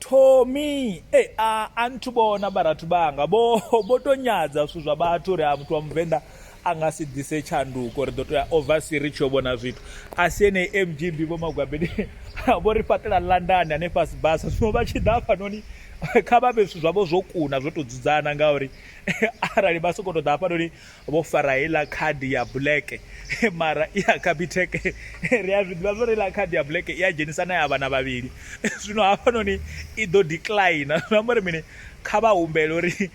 thomi e a a nthu bona vharathu vhanga vho vho to nyadza zwithu zwa vhathu uri a muthu wa muvenḓa a nga si ḓise tshanduko ri ḓo to ya oversea ri tshi yo vhona zwithu a si ene mgb vho magwabeni vho ri fhaṱela london hanefha sibasa zwino vha tshi ḓa hafhanoni kha vha vhe zwithu zwavho zwo kuna zwo to dzudzana ngauri arali vha sokou to ḓa hafhanoni vho fara heiḽa khadi ya black mara i ya capitec ri a zwiḓivha zwo ri la khadi ya black i a dzhenisa na ya vhana vhavhili zwino hafhanoni i ḓo decline zwi amba uri mini kha vha humbele uri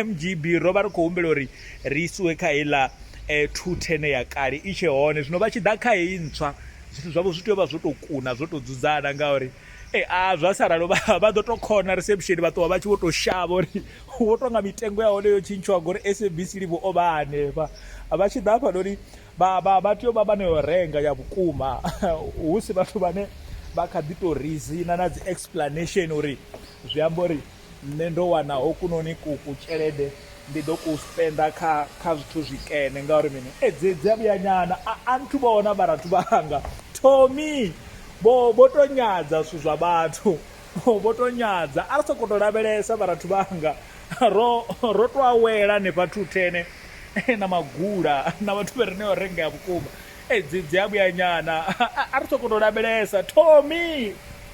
mgb e, e, ro vha ri khou humbela uri ri isiwe kha heiḽa eh, two ten ya kale i tshe hone zwino vha tshi ḓa kha heyi ntswa zwithu zwavho zwi tea u vha zwo tou kuna zwo tou dzudzana ngauri e, a zwa sa ralo vha ḓo tou khona reception vha ṱuwa vha tshi vho tou shavha uri Ho tou nga mitengo ya hone yo tshintshwa ngori SABC Live o vha a hanefha. Vha tshi ḓa hafhanoni vha, vha, vha tea u vha vha no yo renga ya vhukuma hu si vhathu vhane vha kha ḓi tou rizina na dzi explanation uri zwi amba uri nṋe ndo wana hokunoni ku, ku tshelede ndi ḓo ku spenda kha, kha zwithu zwikene ngauri mini. E, dzi, dzi a vhuyanyana. A, a nthu vhona vharathu vhanga. Tommy! Vho, vho tou nyadza zwithu zwa vhathu. Oh, vho tou nyadza. A ri sokou tou lavhelesa, vharathu vhanga. Ro, ro tou awela hanefha thuthene na magula na vhathu vha re nayo rengea vhukuma. Dzi, dzi a vhuyanyana. A, a, a ri sokou tou lavhelesa. Tommy!